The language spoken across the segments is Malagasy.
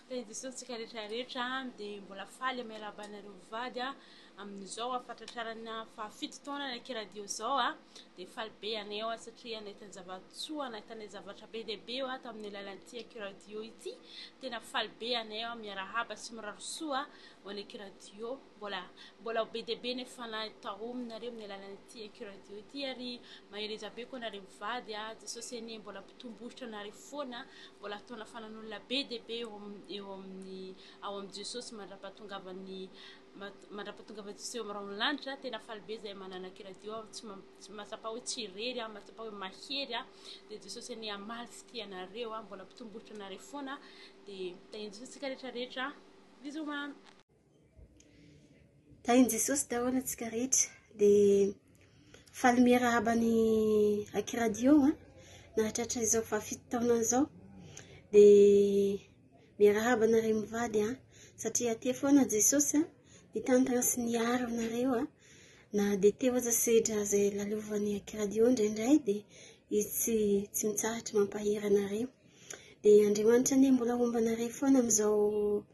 Tena disointsika rehetra rehetra dia mbola faly amin'ny harabanareo vady amin'izao fahatratrarana fahafito taona ny akiradio izao a dia faly be anay ao satria nahitany zava-tsoa nahitany zavatra be dia be eo tamin'ny alalan'ity akiradio ity tena faly be anay ao miarahaba sy mirary soa ho an'ny akiradio Mbola mbola be dia be ny fanahy taominareo amin'ny alalan'ity Eco Radio ity ary mahereza be koa nareo mivady a Jesosy anie mbola mpitombohitra anareo foana mbola atao nafanan'olona be dia be eo amin'ny eo amin'ny ao amin'ny Jesosy mandra-pahatongavan'ny mandra-pahatongavan'i Jesosy eo amin'ny rahon'ny lanitra tena faly be izay manana Eco Radio aho tsy mahatsapa hoe tsy irery aho mahatsapa hoe mahery aho dia Jesosy anie hamaly fitia anareo a mbola mpitombohitra anareo foana dia tahian'i Jesosy tsika rehetra rehetra bisous mamy Tahin'i Jesosy daholo antsika rehetra. Dia faly miarahaba ny Aki Radio a, nahatratra izao fahafito taona izao. Dia miarahaba anareo mivady a, satria aty foana Jesosy a, nitantana sy niaro anareo a, na dia teo aza sedra izay lalovan'ny Aki Radio indraindray dia izy tsy tsy mitsahatra mampahery anareo. Dia Andriamanitra anie mbola homba anareo foana amin'izao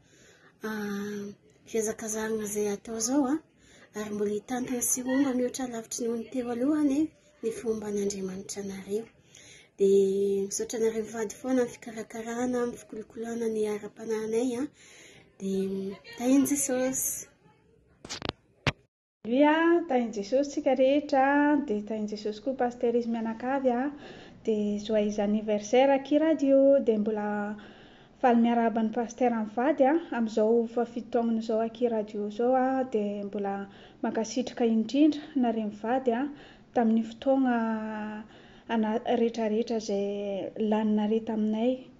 fihazakazahana izay atao izao a, ary mbola hitantana sy ho omba mihoatra lavitry ny ony teo aloha anie ny fihomban'Andriamanitra anareo. Dia misaotra anareo vady foana amin'ny fikarakarana, amin'ny fikolokoloana ny ara-panahinay a. Dia tahin'i Jesosy! Aleloia, Tahin'i Jesosy tsika rehetra, dia Tahin'i Jesosy koa Pasteur izy mianakavy a, dia Joyeux anniversaire aky radio, dia mbola faly miarahaba an'i Pasteur mivady a, amin'izao fahafito taonany izao aky radio izao a, dia mbola mankasitraka indrindra nareo mivady a, tamin'ny fotoagna ana retraretra izay laninareo taminay.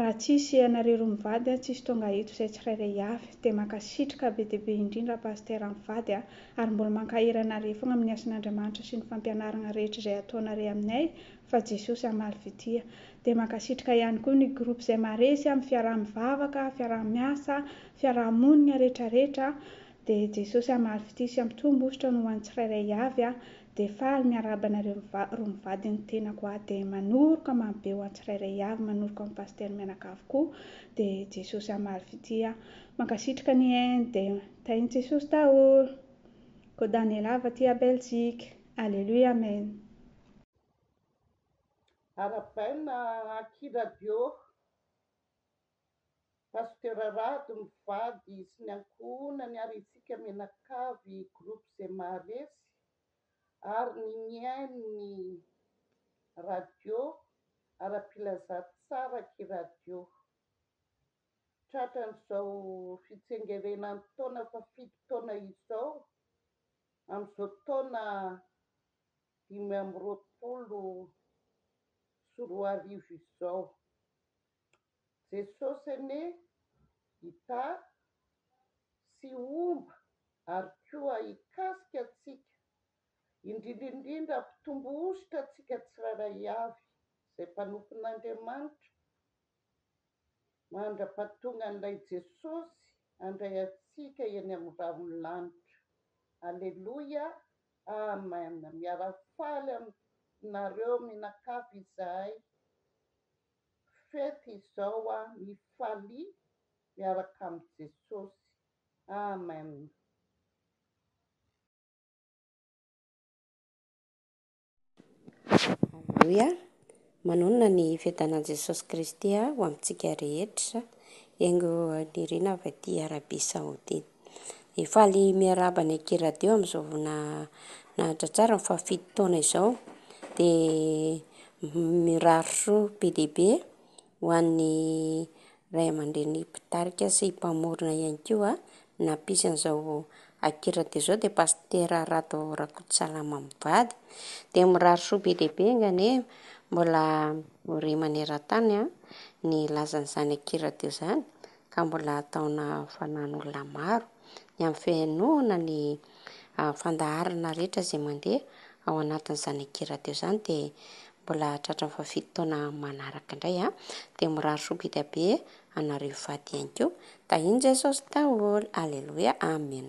Raha tsisy ianareo roa mivady a tsisy tonga eto izay tsirairay avy dia mankasitrka be dia be indrindra Pasitera mivady a ary mbola mankahery anaré fogna amin'ny asan'Andriamanitra sy ny fampianaragna rehetra izay ataonaré aminay fa Jesosy hamaly fitia dia mankasitrka ihany koa ny groupe izay maharesy amin'ny fiaraha-mivavaka, fiaraha-miasa, fiaraha-monigna retraretra Dia Jesosy hamaly fitia sy hampitombo hosotra ny ho an'ny tsirairay avy aho, dia faly miarahaba anareo miva, ro mivady ny tenako aho, dia manoroka mamy be ho an'ny tsirairay avy, manoroka an'i Pasteur mianakavy koa, dia Jesosy hamaly fitia aho. Mankasitraka ny en, dia tahin'i Jesosy daholo. Ko Daniela avy aty à Belgique. Alléluia Amen. Arabaina aky radio. Pasteur Rado mivady sy ny ankohonany ary itsika mianakavy groupe izay maharesy ary ny mihaino ny radio arapilazà tsara ki radio tratran'izao fitsengerenan'ny taona fa fito taona izao amin'izao taona dimy amby roapolo sy roa arivo izao Jesosy anie hita sy homba ary koa hikasika antsika, indrindra indrindra hampitombo hosotra antsika tsirairay avy izay mpanompon'Andriamanitra, mandra-pahatongan'ilay Jesosy handray antsika eny amin'ny rahon'ny lanitra. Aleloia, Amen! Miara-mifaly aminareo mianakavy izahay. Fety izao ah mifalia miaraka amin'i Jesosy Amen. Aleloia, manonona ny fiadanan'i Jesosy Kristy ho amintsika rehetra, enga ho nirinavy aty Arabie Saoudite. Dia faly miarahaba ny Ekiradio amin'izao fotoana nahatratrarany fahafito taona izao. Dia mirary soa be dia be ho an'ny ray aman-dreny mpitarika sy mpamorona ihany koa nampisy an'izao Ekiradio izao dia Pasitera Rado Rakotosalama mivady. Dia mirary soa be dia be anganie mbola ho re maneran-tany ny lazan'izany Ekiradio izany. ka mbola ataona fanan'olona maro ny amin'ny fihenoana ny fandaharana rehetra izay mandeha ao anatin'izany ankeradio izany dia mbola tratran'ny fahafito taona manaraka indray a dia mirary soa bidabe anareo hivady ihany koa tahian'i Jesosy daholo aleloia amen